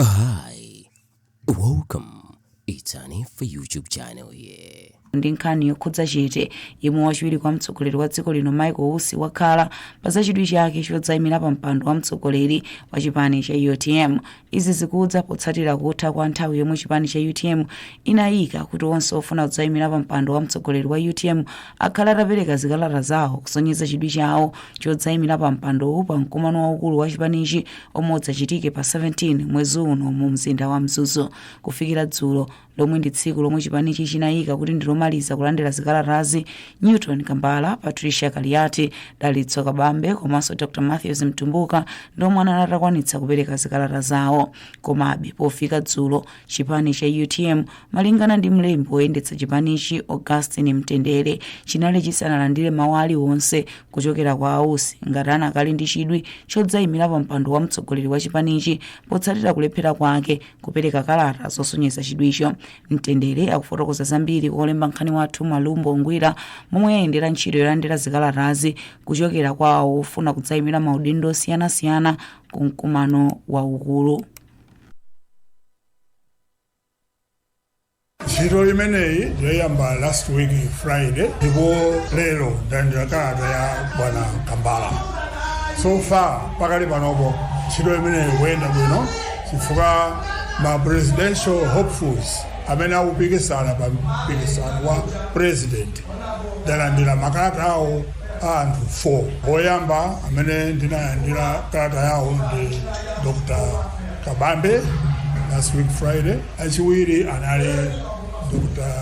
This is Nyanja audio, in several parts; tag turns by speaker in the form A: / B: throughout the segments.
A: Hi, welcome. It's an info YouTube channel here. ndi nkhani
B: yokhudza chete yemwe wachiwiri kwa mtsogoleri wa dziko lino michael usi wakhala pa zachidwi chake chodzayimira pa mpando wa mtsogoleri wa chipani cha utm izi zikudza potsatira kutha kwa nthawi yomwe chipani cha utm inayika kuti onse ofuna kudzayimira pa mpando wa mtsogoleri wa utm akhale atapereka zikalata zawo kusonyeza chidwi chawo chodzayimira pa mpandowu pa mkumano waukulu wa chipanichi omwe udzachitike pa 17 mwezi uno mu mzinda wa mzuzu kufikira dzulo lomwe ndi tsiku lomwe chipanichi chinayika kuti ndilomaliza kulandira zikalatazi newton kambala patricia kaliati dalitso kabambe komanso dr matthews mtumbuka ndi omwe anali atakwanitsa kupereka zikalata zawo komabe pofika dzulo Chipani cha utm malingana ndi mlembi woyendetsa chipanichi Augustine Mtendere chinali chisanalandire mawu aliwonse kuchokera kwa a Usi ngati anakali ndi chidwi chodzayimira pa mpando wa mtsogoleri wa chipanichi potsatira kulephera kwake kupereka kalata zosonyeza chidwicho. Mtendere akufotokoza zambiri kwa wolemba nkhani wathu Malumbo Ngwira momwe yayendera ntchito yolandira zikalatazi kuchokera kwa awo ofuna kudzayimira maudindo osiyanasiyana ku mkumano waukulu.
C: ntchito imeneyi inayamba last week friday ndipo lero ndalandira kalata ya bwana kambala so far pakali panopo ntchito imeneyi ikuyenda bwino chifukwa ma presidential hopefuls amene akupikisana pa mpikisano wa president ndalandira makalata awo a anthu 4. Oyamba amene ndinalandira kalata yawo ndi Dr. Kabambe last week Friday, achiwiri anali Dr.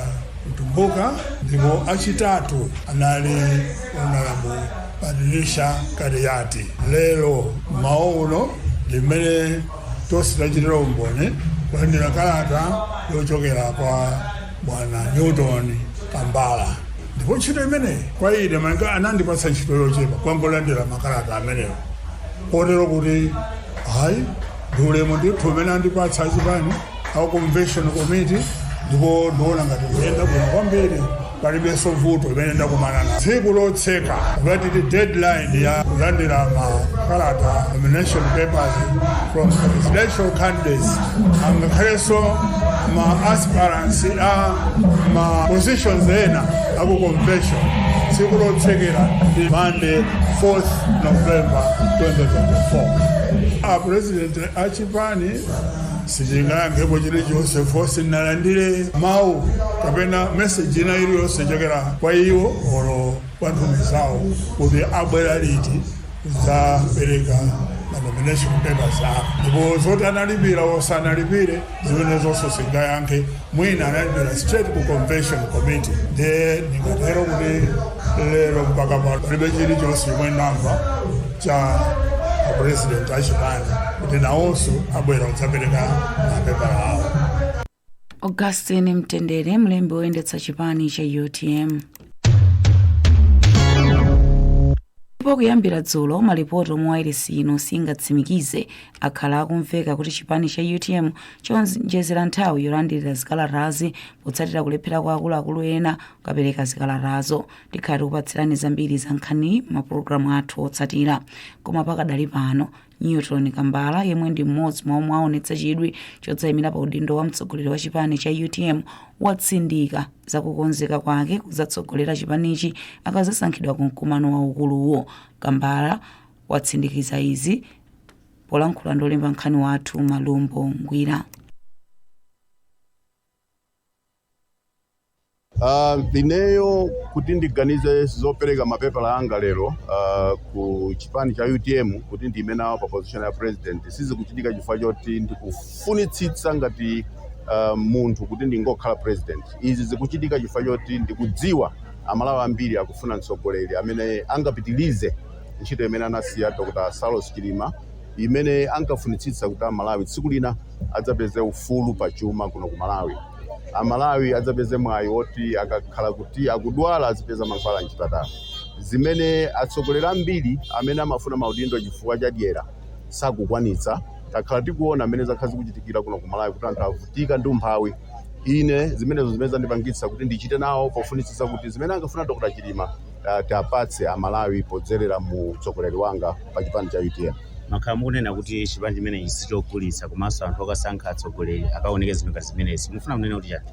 C: Mtumbuka ndipo achitatu anali Honorable Patricia Kaliati. Lero mmawa uno ndimene Tonse tachitira umboni kulandira kalata yochokera kwa bwana Newton Kambala ndipo ntchito imeneyi kwa ine malinga anandipatsa ntchito yochepa yongolandira makalata amenewo kotero kuti ayi ndi ulemu ndithu umene andipatsa achipani a convention committee ndipo ndiona ngati ikuyenda bwino kwambiri palibenso vuto limene ndakumana nalo tsiku lotseka ngati deadline ya kulandira makalata nomination papers from presidential candidates angakhalenso ma aspirants a ma positions ena aku convention tsiku lotsekera ndi monday 4th november 2024 a president achipani sindingayankhepo chilichonse fo sindinalandire mawu kapena meseji ina iliyonse chochokera kwa iwo olo kwa nthumwi zawo kuti abwera liti kudzapereka manomination papers awo ndipo zoti analipira osanalipire zimene zonse sindingayankhe Mwina analipira straight ku convention committee ndiye ndingatero kuti lero mpaka pano palibe chilichonse chomwe ndamva cha apresident achipani kuti nawonso abwera kudzapereka mapepala
B: awo augustin mtendere mlembi woyendetsa chipani cha utm ndipo kuyambira dzulo malipoti omwe wailesi ino siingatsimikize akhala akumveka kuti chipani cha utm chaonjezera nthawi yolandirira zikalatazi potsatira kulephera kwa akuluakulu ena kukapereka zikalatazo tikhala tikupatsirani zambiri za nkhaniyi m'mapulogalamu athu otsatira koma pakadali pano newton kambala yemwe ndi mmodzi mwa omwe aonetsa chidwi chodzayimira pa udindo wa mtsogoleri wa chipani cha utm watsindika zakukonzeka kwake kuzatsogolera chipanichi akazasankhidwa ku mkumano waukuluwo kambala watsindikiza izi polankhula ndi olemba nkhani wathu malumbo
D: ngwira Ah, ineyo kuti ndiganize zopereka mapepala anga lero ah, ku chipani cha utm kuti ndiime nawo pa position ya president sizikuchitika chifukwa choti ndikufunitsitsa ngati ah, munthu kuti ndingokhala president izi zikuchitika chifukwa choti ndikudziwa amalawi ambiri akufuna mtsogoleri amene angapitilize ntchito imene anasiya Dr. Saulos Chilima imene ankafunitsitsa kuti Amalawi tsiku lina adzapeze ufulu pa chuma kuno ku Malawi. Amalawi adzapeze mwayi woti akakhala kuti akudwala azipeza mankhwala m'chipatala. Zimene atsogoleri ambiri amene amafuna maudindo chifukwa cha dyera sakukwanitsa. Takhala tikuona mmene zakhala zikuchitikira kuno ku Malawi kuti anthu avutika ndi umphawi. Ine zimenezo zimene zandipangitsa kuti ndichite nawo pofunitsitsa kuti zimene ankafuna Dr. Chilima tiwapatse a Malawi podzelera mu utsogoleri wanga pa chipani cha utm.
E: Mwakhala mukunena kuti chipani chimenechi sichogulitsa komanso anthu akasankha atsogoleri akaonenge zinthu ngati zimenezi. Mufuna kunena kuti chani?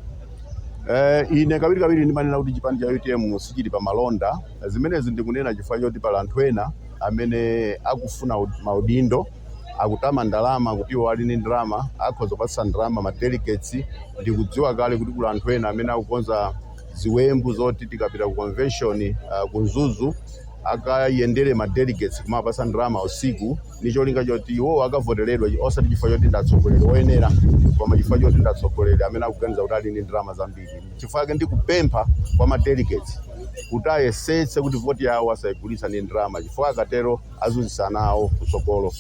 E: Eh,
D: ine kawiri kawiri ndimanena kuti chipani cha utm sichili pa malonda. Zimenezi ndikunena chifukwa choti pali anthu ena amene akufuna ud- maudindo akutama ndalama kuti iwo ali ndi ndalama akhoza kupatsa ndalama ma delegates ndikudziwa kale kuti kuli anthu ena amene akukonza ziwembu zoti tikapita ku convention uh, ku Mzuzu akayendere ma delegates kumawapasa ndalama usiku ni cholinga choti iwowo akavoteredwe osati chifukwa choti ndatsogoleri oyenera koma chifukwa choti ndatsogoleri amene akuganiza kuti ali ndi ndalama zambiri chifukwa chake ndikupempha kwa ma delegates kuti ayesetse kuti voti yawo asayigulitse ndi ndalama chifukwa akatero azunzitsa ana awo kutsogolo.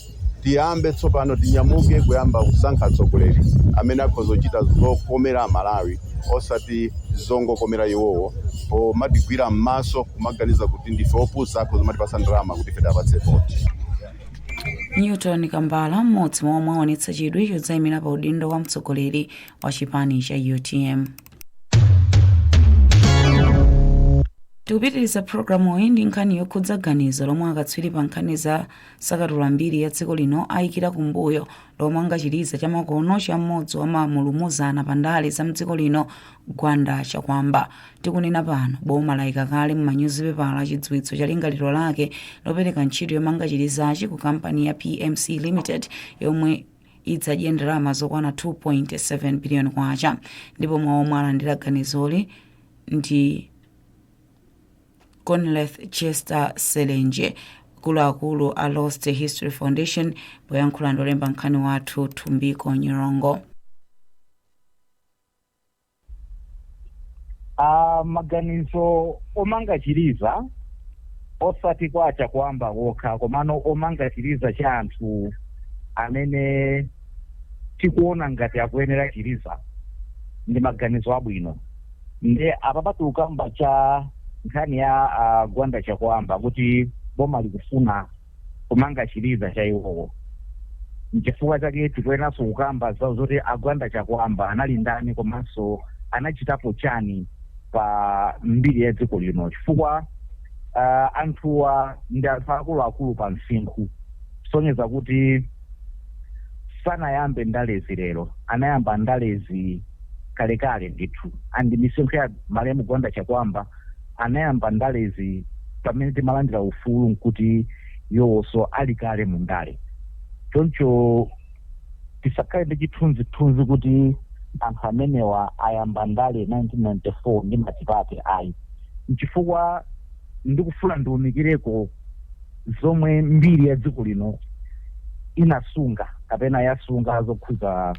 D: Tiyambe tsopano, tinyamuke kuyamba kusankha atsogoleri amene akhoza kuchita zokomera Amalawi osati zongokomera iwowo pomatigwira m'maso kumaganiza kuti ndife opusa akhoza kumatipatsa ndalama kuti ife tiwapatse voti.
B: Newton Kambala, m'modzi mwa omwe aonetsa chidwi chodzayimira pa udindo wa mtsogoleri wa chipani cha utm. tikupitiriza programu iyi ndi nkhani yokhudza ganizo lomwe akatswiri pa nkhani za sakatula mbiri ya dziko lino ayikira kumbuyo lomanga chiliza chamakono cha mmodzi wa mamulumuzana pa ndale za mdziko lino gwanda chakwamba tikunena pano boma layika kale mu manyuzipepala chidziwitso cha lingaliro lake lopereka ntchito yomanga chilizachi ku kampani ya pmc limited yomwe idzadye ndalama zokwana 2.7 biliyoni kwacha ndipo mwa omwe alandira ganizoli ndi conleth chester selenje akuluakulu a lost history foundation poyankhula ndi olemba nkhani wathu thumbiko nyirongo
F: Uh, maganizo omanga chiliza osati kwa achakwamba wokha komano omanga chiliza cha anthu amene tikuona ngati akuyenera chiliza ndi maganizo abwino nde apa patuluka mbali ya nkhani ya uh, gwanda chakwamba kuti boma likufuna kumanga chiliza cha iwowo nchifukwa chake tikuyeneranso kukamba za zoti a gwanda chakwamba anali ndani komanso anachitapo chani pa mbiri ya dziko lino chifukwa uh, anthuwa ndi anthu akuluakulu pa msinkhu kusonyeza kuti sanayambe ndalezi lero anayamba ndalezi kalekale ndithu ndi misinkhu ya malemu gwanda chakwamba anayamba ndalezi pamene timalandira ufulu nkuti iwowonso ali kale mu ndale choncho tisakhale ndi chithunzithunzi kuti anthu amenewa ayamba ndale 1994 ndi matipate ayi nchifukwa ndikufuna ndiunikireko zomwe mbiri ya dziko lino inasunga kapena yasunga zokhuza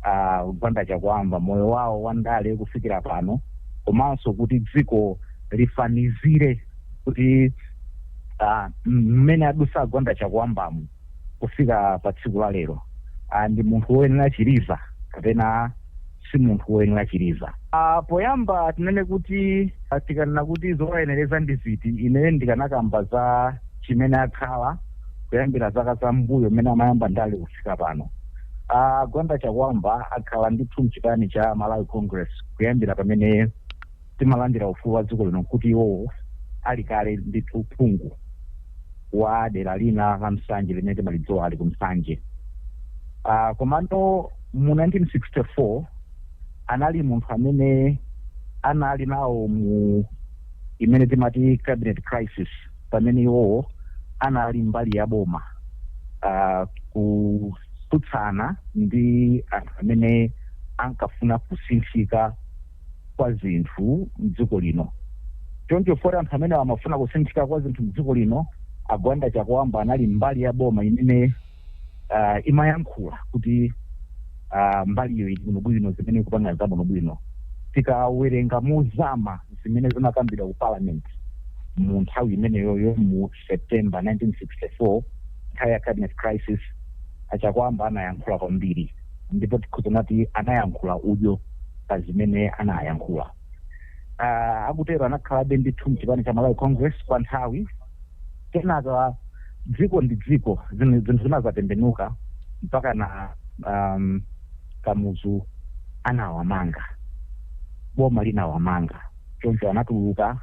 F: uh, gwanda chakwamba moyo wawo wa ndale kufikira pano komanso kuti dziko lifanizire kuti ah, mmene adusa a gwanda chakwambamu kufika pa tsiku la lero Ah, ndi munthu woyenera chiliza kapena si munthu woyenera chiliza. A, poyamba tinene kuti tikanena kuti zowayenereza ndi ziti ineyo ndikanakamba za chimene akhala kuyambira zaka za mmbuyo mmene amayamba ndale kufika pano. A Gwanda Chakwamba akhala ndithu mchipani cha Malawi Congress kuyambira pamene. timalandira ufulu wa dziko lino nkuti iwowo ali kale ndithu phungu wa dera lina la Nsanje limene timalidziwa ali ku Nsanje uh, komano mu 1964 anali munthu amene anali nawo mu imene timati cabinet crisis pamene iwowo anali mbali ya boma uh, kutsutsana ndi anthu amene ankafuna kusinthika kwa zinthu mdziko lino. Choncho poti anthu amene amafuna kusinthika kwa zinthu mdziko lino, a Gwanda Chakuamba anali mbali ya boma imene uh, imayankhula kuti uh, mbaliyo ili bwinobwino zimene ikupanga za bwinobwino. Tikawerenga mozama zimene zinakambidwa ku parliament mu nthawi imeneyoyo mu September 1964, nthawi ya cabinet crisis, a Chakwamba anayankhula kwambiri ndipo tikhoza kunena kuti anayankhula udyo pa zimene anayankhula. Uh, akutero anakhalabe ndithu mchipani cha Malawi Congress kwa nthawi kenaka dziko ndi dziko zin- zinthu zinadzatembenuka mpaka na um, kamuzu anawamanga boma linawamanga Choncho anatuluka.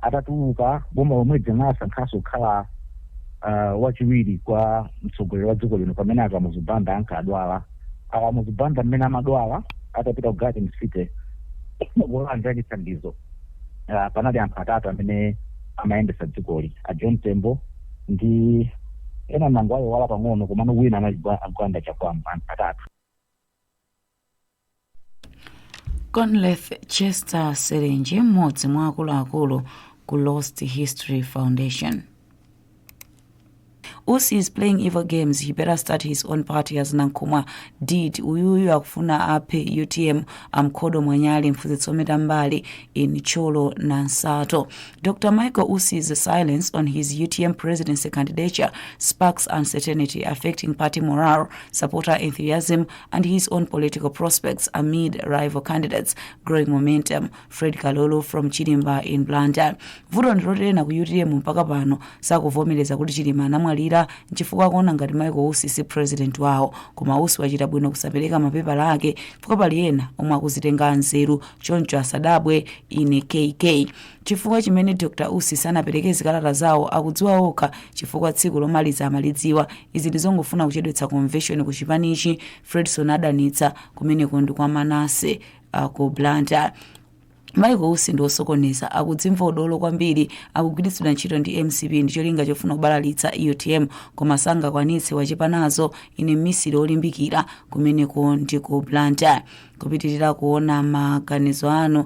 F: Atatuluka, boma lomweli linawasankhanso kukhala uh, wachiwiri kwa mtsogoleri wa dziko lino pamene a Kamuzu Banda ankadwala. A Kamuzu Banda mmene amadwala atapita ku Garden City kulandira chithandizo uh, panali anthu atatu amene amayendetsa dzikoli a John Tembo ndi ena ndangowayiwala pang'ono komano wina anali Gwanda Chakwamba anthu atatu
B: conleth chester serenje mmodzi mwa akuluakulu ku lost history foundation usi is playing evil games he better start his own party as nankhumwa did uyuyu akufuna aphe utm amkhodo mwanyali mphunzitsi ometa mbali in cholo na nsato dr michael usi's silence on his utm presidency candidature sparks uncertainty affecting party morale supporter enthusiasm and his own political prospects amid rival candidates growing momentum fred kalolo from chirimba in blantyre vuto ndiloti ena ku utm mpaka pano sakuvomereza kuti chilima anamwalira nchifukwa akuona ngati michael usi si president wawo koma usi wachita bwino kusapereka mapepala ake chifukwa pali ena omwe akuzitenga anzeru choncho asadabwe ine kk Chifukwa chimene Dr Usi sanapereke zikalata zawo akudziwa okha chifukwa tsiku lomaliza amalidziwa. Izi ndizongofuna kuchedwetsa komveshoni ku chipanichi, Fredson adanitsa. Kumeneko ndi kwa Manase uh, ku Blantyre. Michael Usi ndi osokoneza, akudzimva udolo kwambiri, akugwiritsidwa ntchito ndi mcp ndi cholinga chofuna kubalalitsa utm koma sangakwanitse, wachepa nazo. Ine mmisiri olimbikira, kumeneko ndi ku Blantyre. Kupitirira kuona maganizo anu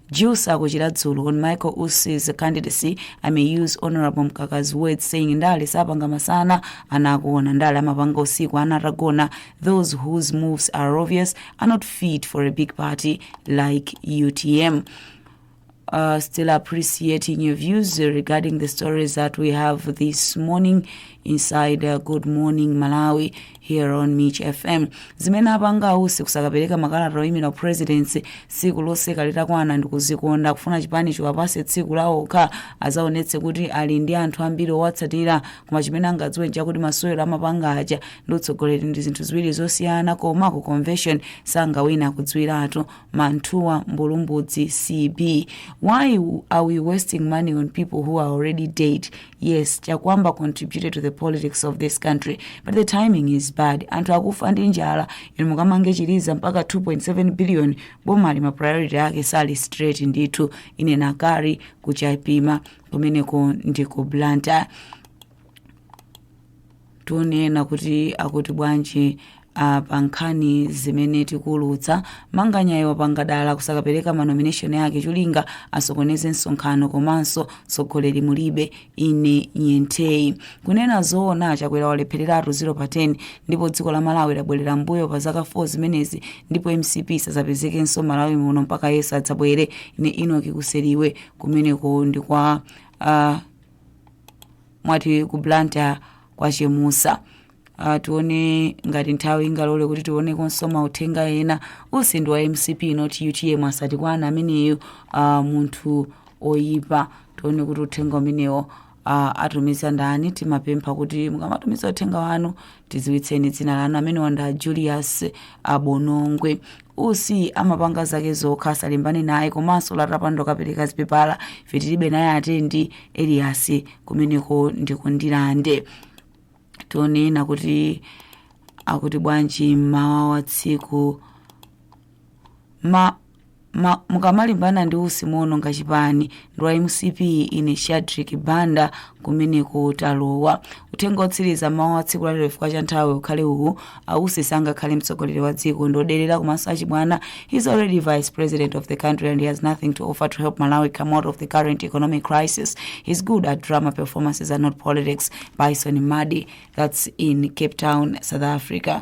B: Juice ako Chiradzulu on Michael Usi's candidacy, I may use Honorable Mkaka's words saying ndale sapanga masana ana akuona ndale amapanga usiku ana atagona those whose moves are obvious are not fit for a big party like UTM. uh, still appreciating your views regarding the stories that we have this morning inside uh, Good Morning Malawi. here on mich fm zimene apanga a usi kusakapereka makalata oyimira presidency tsiku loseka litakwana ndikuzikonda kufuna chipani chiwapase tsiku lawo okha azaonetse kuti ali ndi anthu ambiri owatsatira koma chimene angadziwe nchakuti masewero amapanga aja ndi utsogoleri ndi zinthu ziwiri zosiyana koma ku convention sangawina kudziwiratu manthuwa mbulumbudzi cb why are we wasting money on people who are already dead yes chakwamba contributed to the politics of this country but the timing is bad anthu akufa ndi njala inu mukamange chiliza mpaka 2.7 billion boma ili ma priority ake sali straight ndithu ine nakari ku Chapima kumeneko ndi ku blantyre Tione ena kuti akuti bwanji a pa nkhani zimene tikuulutsa. Manganyayu wapangira dala kusakapereka ma nomination ake cholinga asokoneze msonkhano komanso tsogoleri mulibe. Ine nyenthei. Kunena zoona a Chakwera walephereratu 0 pa 10 ndipo dziko la Malawi labwerera mmbuyo pa zaka 4 zimenezi ndipo mcp isazapezekenso Malawi muno mpaka Yesu adzabwere. Ine Enoch Kuseliwe kumeneko ndi kwa a mwati ku blantyre kwa chemusa uh, tione ngati nthawi ingalole kuti tioneko nso mauthenga ena usi ndi wa mcp not utm asatikwane ameneyo uh, munthu oyipa tione kuti uthenga umenewo uh, atumiza ndani timapempha kuti mukamatumiza uthenga wanu tidziwitseni dzina lanu amenewa nda julius abonongwe usi amapanga zake zokha asalimbane naye komanso lata mpando akapereka zipepala ife tilibe naye atero ndi elias kumeneko ndi ku ndirande tione ena kuti akuti bwanji mmawa wa tsiku ma, mukamalimbana ndi usi muononga chipani ndi wa mcp ine shadrick banda kumeneko talowa uthenga otsiriza mmawa wa tsiku lalero chifukwa cha nthawi ukhale uwu a usi sangakhale mtsogoleri wa dziko ndi oderera komanso achibwana he's already vice president of the country and he has nothing to offer to help malawi come out of the current economic crisis he's good at drama performances and not politics bison madi that's in cape town south africa